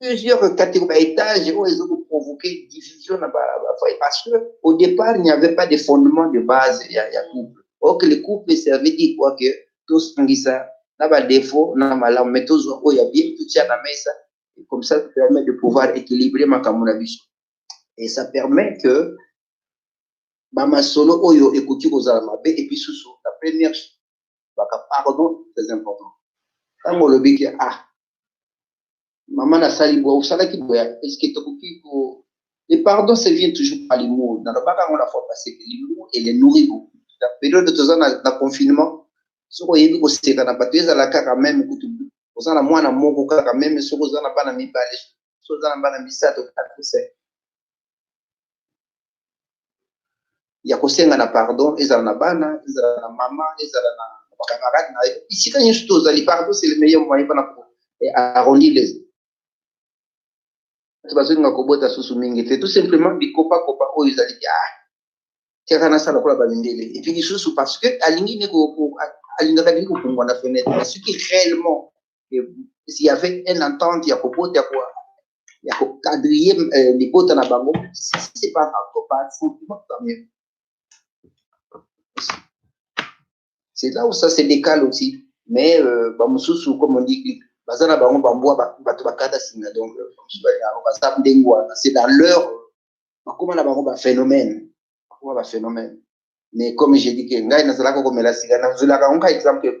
plusieurs catégories ba étages oyo ezo provoquer division na ba foyer parce que au départ il n'y avait pas de fondement de base ya ya couple or que le couple servait dit quoi que tous ngisa na ba défaut na malam mais tous oyo ya bien tout ya na mesa et comme ça permet de pouvoir équilibrer makambo na biso et ça permet que ba masolo oyo ekoki kozala mabe et puis sous la première baka pardon très important ntango olobi ke ah mama nasali boye osalaki boye eske tokoki ko le pardon se vient toujours par l'humour nalobaka yango na fois passé que l'humour et le nourri beaucoup na periode toza na, na confinement soki oyebi koseka na bato ezala kaka meme kutu oza na mwana moko kaka meme soki oza na bana mibale soki oza na bana misato kaka koseka ya kosenga na pardon ezala na bana ezala na mama ezala na bacamarade na ye bisika nyonso to ozali pardon c'est le meilleur moyen mpona ko eh, arrondir les bato bazolinga kobota susu mingi te tout simplement bikopakopa oyo ezali ya ah, tiaka nasala kola bamindele epuis lisusu parce que alingi ne alingaka lingi kopumbwa na fenêtre soki réellement s'il y avait un entente ya kobota ya kokadrie euh, libota na bango c'est pas encore pas sentiment quand même c'est là où ça se décale aussi mais euh, bamosusu comme on dit baza na bango bambwa bato bakata singa donc euh, baza ndenge wana c'est dans leur bakoma na bango baphénomène bakoma baphénomène mais comme je dis ke ngai nazalaka komela sika nazolaka yango ka exemple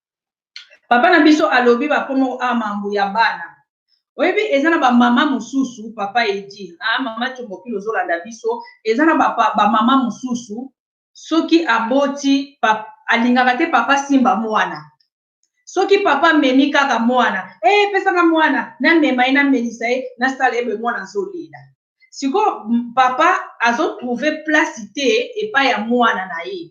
Papa na biso alobi ba komo a mambu ya bana oyebi eza na ba maman mususu papa edi a maman combokilo ozo landa biso eza na ba ba maman mususu soki aboti pap alingaka te papa simba muana soki papa amemi kaka muana eh pesa nga muana na mema ye na melisa ye na sala ye boye muana azo lela sikoyo papa azo trouver place te epai ya muana na ye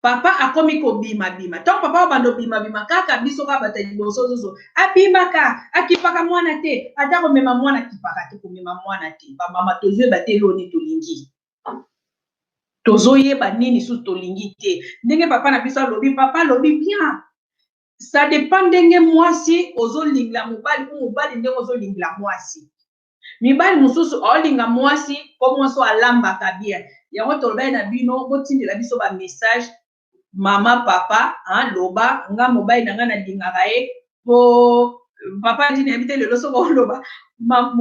papa akomi kobima bima ntango papa obanda obima bima kaka biso kaka bato ya liboso zozo abimaka akipaka mwana te ata komema mwana akipaka te komema mwana te bamama tozoyeba te eloo nini tolingi tozoyeba nini susu tolingi te ndenge papa na biso alobi papa alobi bien ça dépend ndenge mwasi ozolingla mobali ou mobali ndenge ozolingla mwasi Mibali mosusu olinga muasi po muasi oyo alambaka bien yango tolobaki na bino botindela biso ba message maman papa hein loba nga mobali na nga na lingaka ye po papa edi nayebi te lelo soki oloba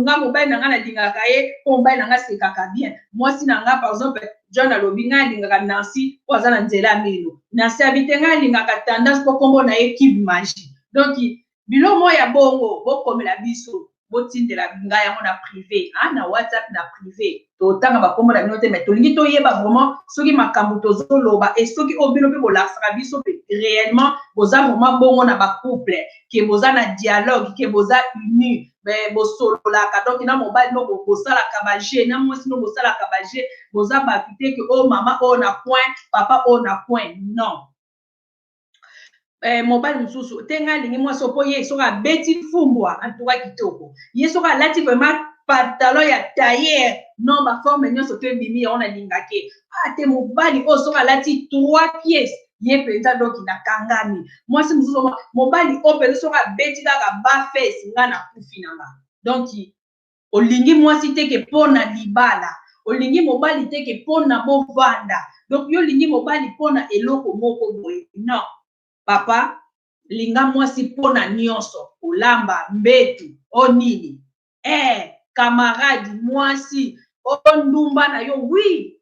nga mobali na nga na lingaka ye po mobali na nga asekaka bien muasi na nga par exemple John alobi nga alingaka Nancy po aza na nzela ya mino Nancy abite nga alingaka tendance po kombo na ye cube magie donc bilo moko ya bongo bokomela biso botindela ngai yango na prive ah, na whatsapp na prive totanga bakombo na bino te mai tolingi toyeba vraiment soki makambo tozoloba e soki oyo bino mpe bolakisaka biso mpe réellement boza vraiment bongo na bacouple ke boza na dialogue ke boza uni bosololaka donc na mobali no bosalaka baje na mwasi no bosalaka baje boza bato te ke oyo oh, mama oyo oh, na coin papa oyo oh, na coin non eh, mobali mosusu te ngai alingi mwasi mpo ye soki abeti fumbwa antuka kitoko ye soki alati vraiment pantalon ya tailleur non baforme nyonso to ebimi yango nalingaki ate ah, mobali oyo soki alati trois pièces ye mpenza doki nakangami mwasi mosusu mobali oyo mpenza soki abeti kaka bafes ngai nakufi na nga donk olingi mwasi te ke mpo na libala olingi mobali te ke mpo na bovanda donc yo olingi mobali mpo na eloko moko boye non papa linga mwasi mpo na nyonso kolamba mbetu o oh, nini eh camarade mwasi o oh, ndumba na yo wi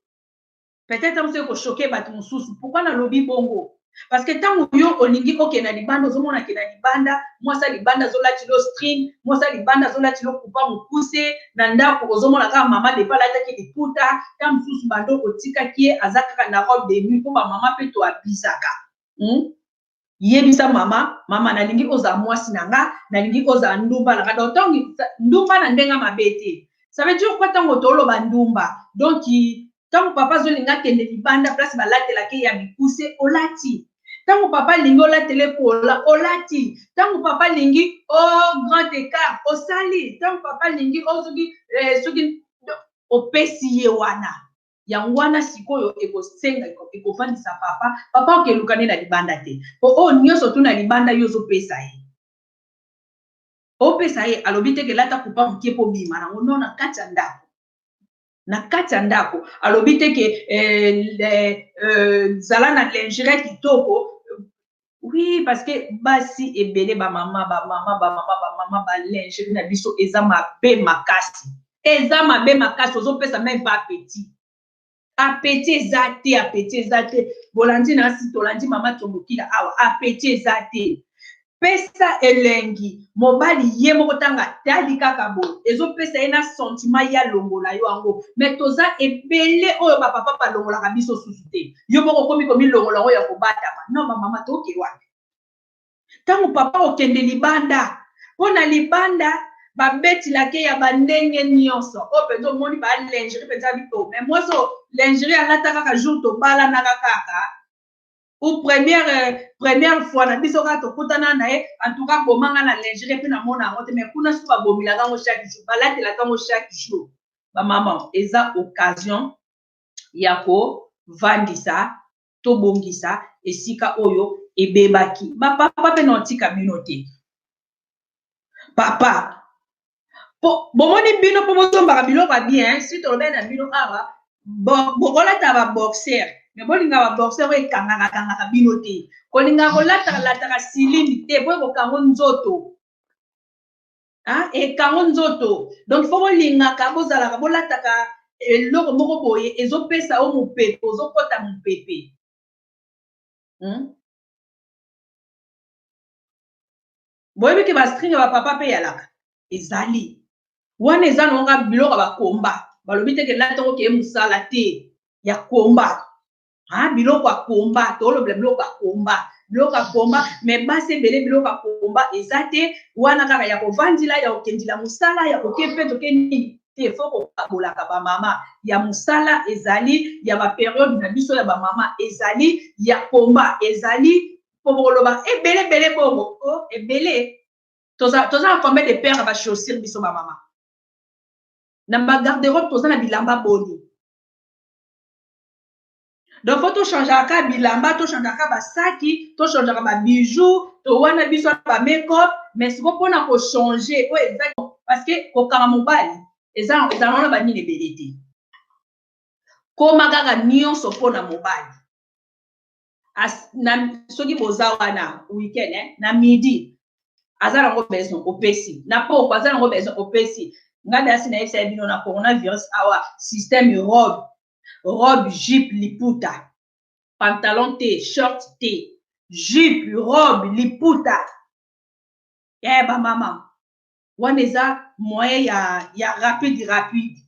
peut-être yango soki kochoke bato mosusu pourkui nalobi bongo parce que ntango yo olingi okende na libanda ozomona ke na libanda mwasi ya libanda azolati lo string mwasi ya libanda azolati lo kupa mokuse na ndako ozomona kaka mama depa alataki liputa ta mosusu bando otikaki ye aza kaka na robe de nuit mpo bamama mpe toabizaka hmm? yebisa mama mama nalingi ozala mwasi na nga nalingi ozala ndumba na nga donc ntango ndumba na ndenge mabe te ça veut dire quoi ntango toloba ndumba donc ntango papa azolinga akende libanda place balatelaka ye ya mikuse olati ntango papa alingi olatele pola olati ntango papa alingi o oh, grand écart osali ntango papa alingi ozoki oh, eh, soki opesi ye wana yango wana sikoyo ekosenga ekofandisa papa papa okeluka nde na libanda te mpo oyo nyonso tu na libanda yo ozopesa ye opesa ye alobi te kelata kupa moke mpo bima nango no na kati ya ndako na kati ya ndako alobi te ke eh, eh, zala na lingere kitoko Oui, parce que basi ebele ba mama ba mama ba mama ba mama ba lingerie na biso eza mabe makasi. Eza mabe makasi ozopesa meme pas petit. Apeti eza te, apeti eza te. Bolandi na asi tolandi mama tombokila awa. Apeti eza te. Pesa elengi mobali ye moko tanga tali kaka boye ezopesa ye na sentiment ya longola yo yango me toza ebele oyo bapapa balongolaka biso susu te yo moko okomi komilongola yango ya kobatama no bamama toke wapi ntango papa okende libanda mpo na libanda babetilake ya bandenge nyonso oyo mpenza omoni balingeri mpenza bito me mwasi oyo lingeri alata kaka jour tobalanaka kaka ou première euh, première fois na biso kaka tokutana na ye en tout cas bomanga na lingeri mpe namona yango te mais kuna soki babomelaka yango chaque jour balatelaka yango chaque jour bamama eza occasion ya kovandisa to bongisa esika oyo ebebaki ba papa pe na otika bino te papa po bomoni bino po bosombaka biloko ya bien si tolobeli na bino awa bokolata ba boxer me bolinga ba boxer oyo ekangaka kangaka bino te kolingaka kolataka lataka silini te po ekokango nzoto hein? ekango nzoto donc fo bolingaka bozalaka bolataka eloko moko boye ezopesa yo mopepe ozokota mopepe hmm? boyebi ke bastring ya bapapa mpe yalaka ezali wana eza nonga biloko ya bakomba balobi te kelata okeye mosala te ya komba ah, biloko ya komba tolobela biloko ya komba biloko ya komba me basi ebele biloko ya komba eza te wana kaka ya kovandila ya kokendila mosala ya koke mpe toke nini te fo kokabolaka bamama ya mosala ezali ya baperiode na biso ya bamama ezali ya komba ezali mpo bokoloba ebele ebele bongo o oh, ebele toza na combien de pere ya bachaussure biso bamama na bagarderobe toza na bilamba boni donc fo tochangeaka ka bilamba tochangeaka ka basaki tochangeaka babijou to wana biso na bamekop mais siko mpona kochange oyo eza parce que kokanga mobali eza ezala wana banini ebele te koma kaka nyonso mpo na mobali As, na, soki boza wana weekend eh, na midi aza nango besoin opesi na poko aza nango besoin opesi ngai nde asi nayebisa ye bino na coronavirus awa système robe robe jupe liputa pantalon te short te jupe robe liputa eh bamama wana eza moyen ya, ya rapide rapide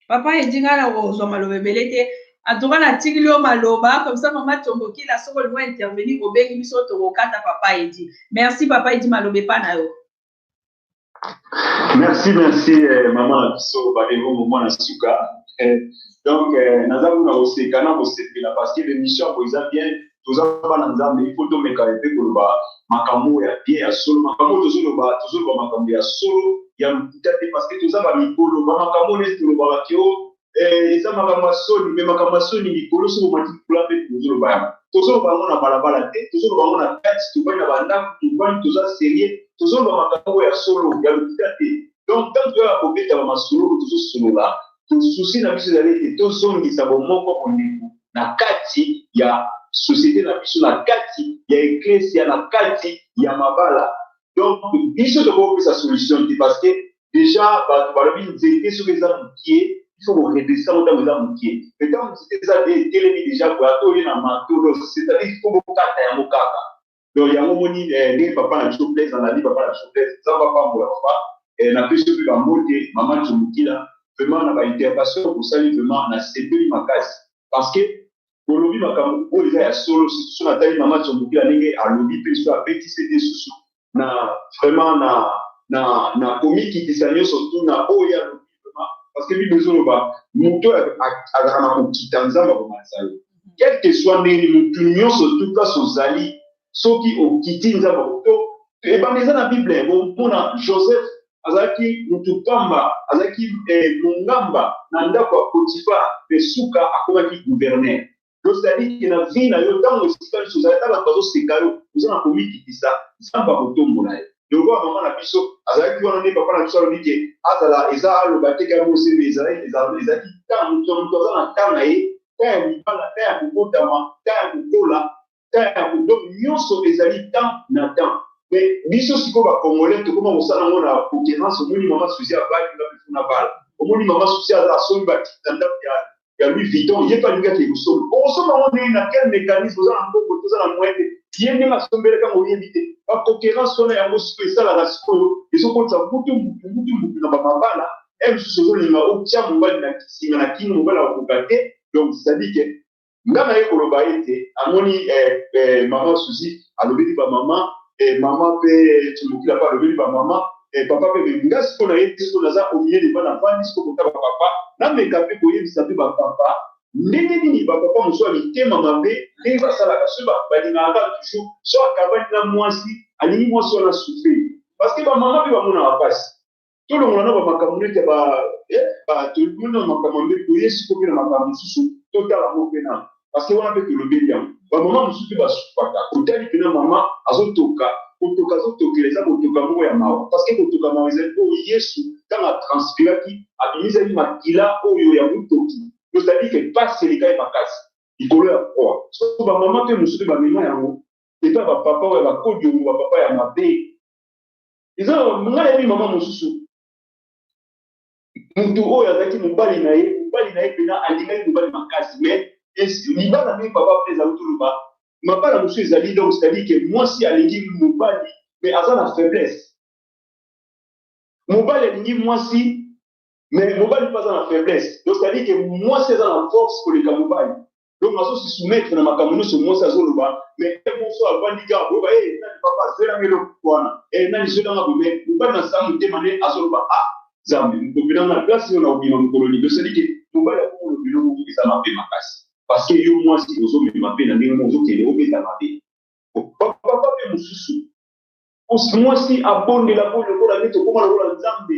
papa edi ngai nakozwa maloba ebele te antuka natikili yo maloba komsa mama tombokila soki olingo intervenir obengi biso tokokata papa edi merci papa edi maloba epa na yo merci merci eh, mama na biso balengongo mwana suka eh, donc eh, naza kuna koseka na kosepela parce que l'émission yango eza bien toza bana nzambe ifo tomeka mpe koloba makambo ya bien ya solo makambo tozoloba tozoloba makambo ya solo ya lokuta te parce que toza bamikolo bamakambo neti tolobaka keo eh, eza makambo ya soni me makambo ya soni likolo soki omati likolo mpe tozoloba yango tozoloba yango na balabala te tozoloba yango na kati tobani na bandako tobani toza serie tozoloba makambo ya solo ya lokuta te donc ntango toyaka kobeta bamasolo tozosolola tosusi na biso ezali ete tozongisa bomoko bondeko na kati ya société na biso na kati ya eklesia na kati ya mabala donc biso tokoki kopesa solution te parce que deja bato balobi nzete soki eza mokie ifo koredresa yango ntango eza mokie me ntango nzete eza de etelemi deja boye ata oye na mantolo cetadire ifo bokata yango kaka donc yango moni eh, ndenge papa na biso blaise alandi papa na biso blaise nzambe apambola papa eh, napesi yo mpe bambote mama comokila vraiment na baintervention osali vraiment nasepeli makasi parce que bolobi makambo oyo eza ya solo siso natali mama comokila ndenge alobi mpe so abetisi ete susu na vraiment na na na komikitisa nyonso tu na oyo ya lobi vraiment parce que bible ezoloba moto oyo azalaka na kokita nzambe akomalisa yo quel que soit ndenge motu nyonso tu place ozali soki okiti nzambe to ebanda eza na bible bomona joseph azalaki motu pamba azalaki eh, mongamba na ndako ya potifa mpe suka akomaki guverner Donc, c'est-à-dire que na vie na yo, ntango esika nyonso ozali na bato bazoseka yo, oza na komikitisa, Nzambe akotombola yo. Lokola mama na biso azalaki wana nde papa na biso alobi ke azala eza aloba te kaka mose me ezalaki ezalaki ntango moto moto aza na ntango na ye, ntango ya libala, ntango ya kobotama, ntango ya kokola, temps ya ko donc nyonso ezali temps na temps mais biso sikoyo ba congolais tokoma kosala yango na concurrence omoni mama suzi abali nga bifu na bala omoni mama suzi aza asombi batiki na ndako ya ya louis vuitton ye mpe alingi ake kosomba okosomba yango ndenge na quel mécanisme oza na mbongo te oza na moyen te ye ndenge asombelaka yango oyebi te ba concurrence wana yango sikoyo esalaka sikoyo ezokotisa mutu mutu mutu mutu na bamabala e mosusu ozolinga otya mobali na kisinga na kini mobali akokoka te donc cetadire ke nga naye koloba ete amoni eh, eh, mama suzi alobeli bamama eh, mama mpe timokila mpe alobeli bamama eh, papa mpe nga siko na ye siko naza omie deba na vandi siko kotala papa nameka mpe koyebisa mpe bapapa ndenge nini bapapa mosusu ya mitema mabe ndenge basalaka soki balingaka toujours so akabani na mwasi alingi mwasi wana souffrir parce que bamama mpe bamonaka mpasi tolongola na bamakambo nete ba eh, tolongola na makambo mbe toye siko mpe na makambo mosusu totala yango mpe na parce wana mpe tolobeli yango bamama mosusu mpe basukaka otali mpena mama azotoka kotoka azotokela eza kotoka moko ya mawa parce que kotoka mawa ezali oyo yesu ntango atranspiraki abimisaki makila oyo ya motoki tozali ke mpasi elekaki makasi likolo ya koa so bamama mpe mosusu mpe bamema yango epai bapapa oyo bakodi yango bapapa ya mabe eza nga nayebi mama mosusu motu oyo azalaki mobali na ye mobali na ye mpena alingaki mobali makasi mais libala ndenge papa mpe ezali toloba mabala mosusu ezali donc c'est-à-dire que mwasi alingi mobali mais aza na faiblesse mobali alingi mwasi mais mobali mpe aza na faiblesse donc c'est-à-dire que mwasi aza na force koleka mobali donc azo se soumettre na makambo nyonso mwasi azoloba mais ye moso avandi kaka koyeba e eh, nani papa zwelanga eloko wana e eh, nani zwelanga bome mobali na saa motema nde azoloba a ah, zambe mokopela na place oyo na obima mokolo nini osali te mobali akokolo biloko moko eza mabe makasi parce que yo mwasi ozomema mpe na ndenge moko ozokende obeta mabe papa mpe mosusu mwasi abondela mpo lokola nde tokoma lokola nzambe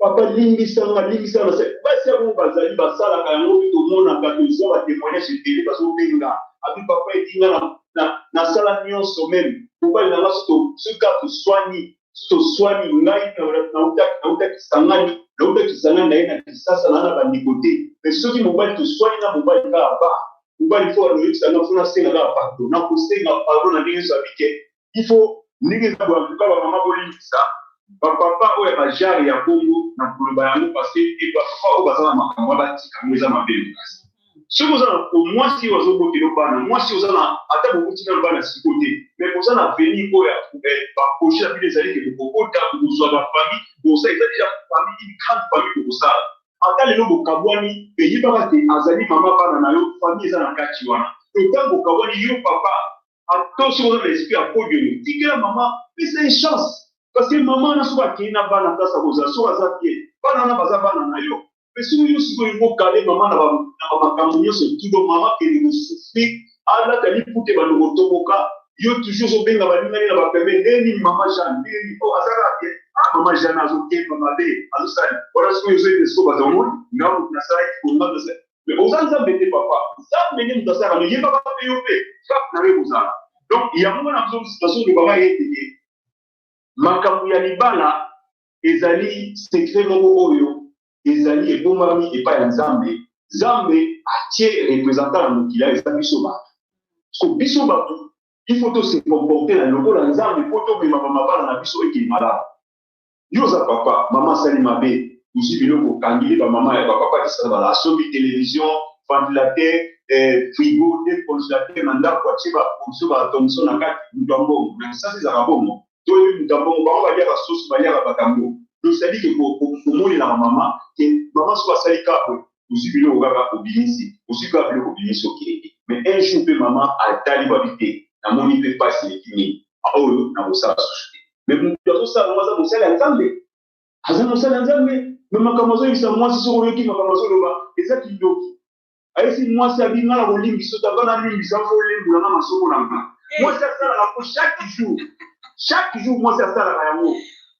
Papa limbisa nga limbisa nga c'est basi ya bongo bazali basalaka yango mpe tomonaka toza ba témoignage ebele bazobenga abi papa edi nga na, na, nasala nyonso meme mobali na nga soki to- soki kaka toswani soki toswani ngai na- nautaki nautaki kisangani nauta kisangani naye na kisasa naa na bandeko te mais soki mobali toswani na mobali kaka ba mobali fo anoyebisa nga fo nasenga kaka pardon nakosenga pardon na ndenge nyonso abike il faut ndenge eza boye antuka bamama bolimbisa bapapa oyo ya bajare ya bongo na koloba yango parce que bapapa oyo baza na makambo ya batika yango eza mabe makasi soki oza na mwasi oyo azobotela bana mwasi oza na ata bokuti na bana siko te me oza na veni oyo ya eh, baproje ya bino ezali ke bokokota bokozwa bafami bosa eza deja fami une grande fami bokosala ata lelo bokabwani eyebaka te azali mama bana na yo fami eza na kati wana ntango bokabwani yo papa ata soki oza na esprit ya podium tikela mama pesa ye chance parce que mama wana soki akei na bana place akozala soki aza bien bana wana baza bana na yo mpe soki yo sikoyo olingi okale mama na bamakambo nyonso tudo mama kende kosufri alata lipute bando kotoboka yo toujours ozobenga balingani na bapeme ndeni mama jean ndeni o oh, azalaka te a ah, mama jean azokemba mabe azosala wana soki ozoyende soko bazamoni ngambo nasalaki kongambe mais oza nzambe te papa nzambe nde moto asala no yebaka mpe yo mpe frappe na yo ekozala donc yango wana nazolobama yeteke makambo ya libala ezali sekre moko oyo ezali ebombami epai ya nzambe nzambe atie representant na mokili ayo eza biso bato so biso bato il faut tose comporte na lokola nzambe mpo tomemama mabala na biso ekei malamu yo oza papa mama asali mabe ozwi biloko okangili bamama ya bapapa kisana bala asombi televizio ventilateur eh, frigo te congélateur na ndako atye baprovisio baatomso na kati moto ya mbongo na kisasa ezalaka bongo to oyebi moto ya mbongo bango balyaka soso balyaka bakambo donc cetadire ke omonelaka mama ke mama soki asali kabwe ozui biloko kaka obimisi ozui kaka biloko obimisi okende mais un jour pe maman atali ba bi te na moni pe pasi eleki mingi oyo na kosala susu te mais mutu azo sala ngo aza mosali ya nzambe aza mosali ya nzambe mais makambo azo yebisa mwasi soki oyoki makambo azo loba eza kindoki ayesi mwasi abi nga na kolimbisa yo taba na limbisa fo olembola nga masoko na nga mwasi asalaka ngo chaque jour chaque jour mwasi asalaka yango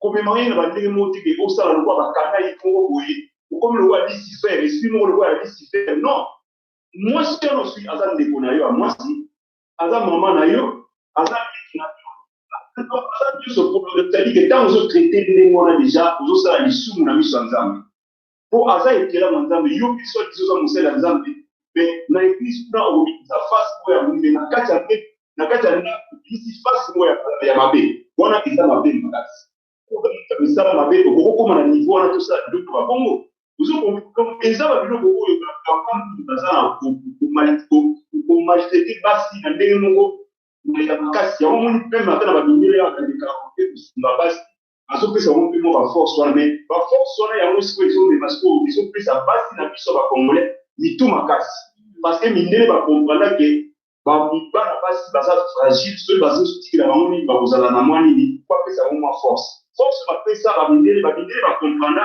komema ye na bandenge moko te ke osala lokola bakanga ye moko boye okomi lokola lisifer esprit moko lokola ya lisifer non mwasi wana osui aza ndeko na yo ya mwasi aza mama na yo aza ndeko na yo aza nyonso polo c'est-à-dire que ntango ozotraite ndenge wana deja ozosala lisumu na miso ya nzambe mpo aza ekelamu ya Nzambe. Yo mpe soit disant oza mosali ya Nzambe, mais na eglise kuna okobimisa face moko ya moyibi, mais na kati ya mbetu, na kati ya ndako obimisi face moko ya ya mabe. Wana eza mabe makasi. Okoki misala mabe, okoki kokoma na niveau wana tosala biloko ya bongo. Ozo comprendre? Eza ba biloko oyo ba papa mingi baza na ko ko mal- ko- ko maltraiter basi na ndenge moko ya makasi. Yango omoni meme ata na ba mindele awa na lekaka mpe kosunga basi azopesa yango mpe mwa baforce wana mai baforce wana yango sikoyo ezomema sikoyo ezopesa basi na biso ya bacongolais mitu makasi parce que mindele bakompranda ke bana basi baza fragile soki bazotikela bango nini bakozala na mwa nini bapesa yango mwa force force bapesa bamindele bamindele bakompranda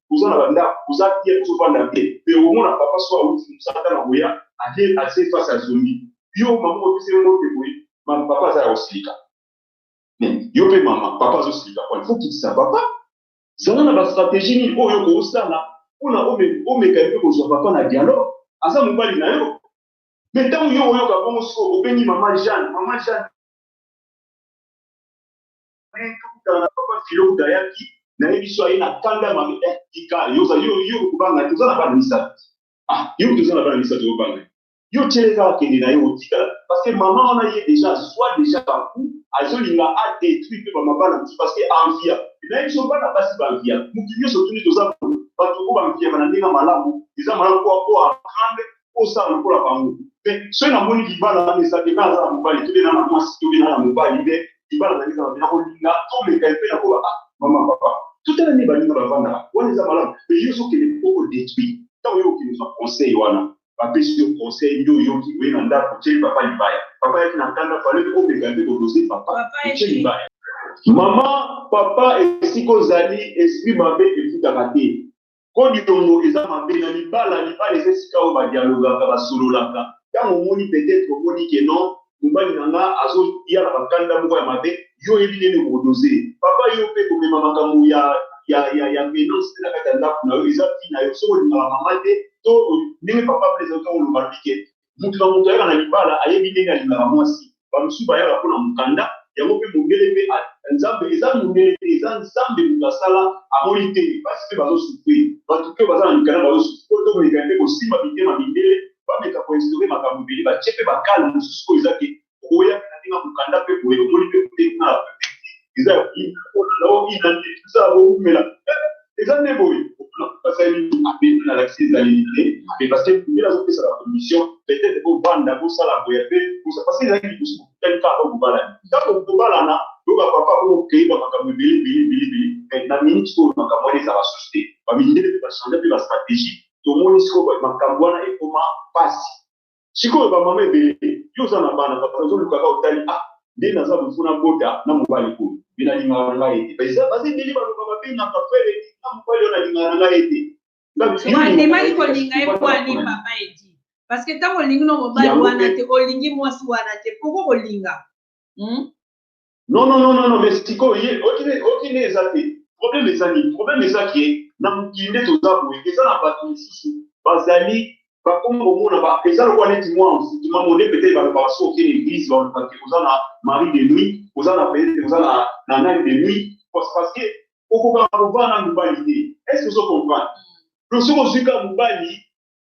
oza na bandako oza bien ozofanda bien mpe omona papa so awuti mosala na koya aye atie face ya zombi yo mama opesi ye mbote boye mama papa aza ya kosilika yo mpe mama papa azosilika po ifo kitisa papa zala na bastratégie nini oyo okosala mpona omeka ye mpe kozwa papa na dialogue aza mobali na yo me ntango yo oyoka bongo siko obengi mama jeanne mama jeanne Après tokutana na papa Philo kutu ayaki, nayebi biso aye na kanda mabe. Eh, tika yo ozali yo yo kobanga te, oza na bana misato. Ah, yo kutu oza na bana misato yo banga. Yo tiele kaka kende na yo otikala. Parce que maman wana ye deja azwa deja ba coup, azolinga a detruire pe ba mabala mosusu parce que envia. Nayebi biso bana basi ba envia. Mutu nionso otuni toza bato oyo ba enviaka na ndenge ya malamu, eza malamu po po a apprendre osala lokola bango te soki namoni libala ezali nga aza na mobali tobe na na mwasi tobe na na mobali nde libala na ezala na kolinga tomeka mpe na koba ah, mama papa totala nde baninga bavandaka wana eza malamu mpe yo ozokende oko detruit ntango yo okende ozwa conseil wana bapesi yo conseil nde oyoki oye na ndako otyeli papa libaya papa yaki na kanda fale omeka mpe kodose papa otye libaya mama papa esika ozali esprit mabe efutaka te Ko niongo eza mabe na libala, libala eza esika oyo ba dialogaka, ba sololaka. Tango omoni peut etre omoni que non mobali na nga azo ya na ba kanda moko ya mabe, yo oyebi ndenge nini oko doser. Papa yo pe ko mema makambo ya ya ya ya penance te na kati ya ndaku na yo eza vie na yo, soki olingaka maman te to ndenge papa Blaise azo loba lobi que Moto na moto ayaka na libala, ayebi ndenge alingaka mwasi. Bamosusu bayaka mpo na mokanda yango mpe mondele mpe a, Nzambe, eza mondele te, eza Nzambe moto asala, amoni te basi mpe bazo souffrir, bato mpe oyo baza na mikanda bazo souffrir, oyo tomeka mpe kosimba mitema mindele bameka ko instaurer makambo ebele, batie mpe ba cale mosusu oyo eza ke oya na ninga mukanda pe boye omoni pe boye na eza ya kuina pona na omi na nde eza boumela eza nde boye opona basali ape na lakisi ezali te mais parce que kumela ko pesa la commission peut-être ko banda ko sala boye pe ko sa parce que ezali ki kusu kutani ka ko bala ka ko bala na loba papa ko kei ba makambo bele bele bele bele mais na minute ko makambo eza ba société ba mindele ba changer pe ba stratégie tomoni sikoyo makambo wana ekoma pasi sikoyo ba mama ebele yo oza na bana bato bazoluka kaka otali ah nde naza mofu na bota na mobali oyo mpe nalingaka na ngai ete baza baza ebele baloba babengaka frere na mobali oyo nalingaka na ngai ete wandimaki kolinga ye mpo ani papa edi parce que ntango olingi no mobali wana te olingi mwasi wana te poko kolinga hmm? Non, non, non, non, non, mais sikoyo ye okine okine eza te. Problème eza nini? Problème eza ke na mokili nde toza boye. Eza na bato mosusu bazali bakomi komona ba eza lokola neti mwa envoûtement mone peut-être balobaka soki okende église balobaka ke oza na mari de nuit, oza na peut-être oza na na nani de nuit parce parce que okokaka kovanda na mobali te. Est-ce que ozo comprendre? Donc soki ozwi kaka mobali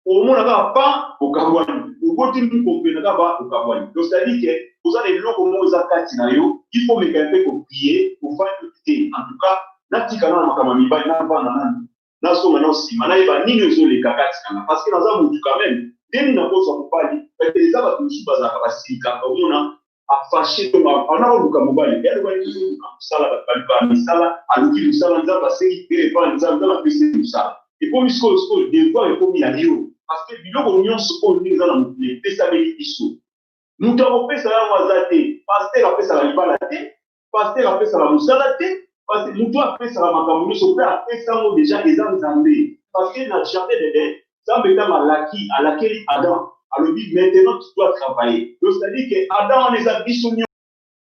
omona kaka pa okabwani oboti mbuko mpe na kaka okabwani donc c'est-à-dire que oza na eloko moko eza kati na yo il faut meka mpe kopie ofandi te en tout cas natika na makambo ya mibali navanda nani nazonga nao nsima nayeba nini ezoleka kati na nga parce que naza motu quand même ndenge nakozwa mobali eza bato mosusu bazalaka basilika omona afashe to awana koluka mobali ye alobaki tozoluka mosala bato baluka misala aluki mosala nzambe asengi te epa nzambe nzambe apesi mosala ekomi sikoyo sikoyo devoir ekomi ya yo parce que biloko nyonso oyo ndenge eza na mokili epesameli biso moto akopesa yango aza te paster apesaka libala te pasteur apesaka mosala te parce que mutu apesaka makambo nyonso mpe apesa yango deja eza nzambe parce que na jardin d'eden nzambe ntango alaki alakeli adam alobi maintenant tu dois travailler donc c'est à dire que adam wana eza biso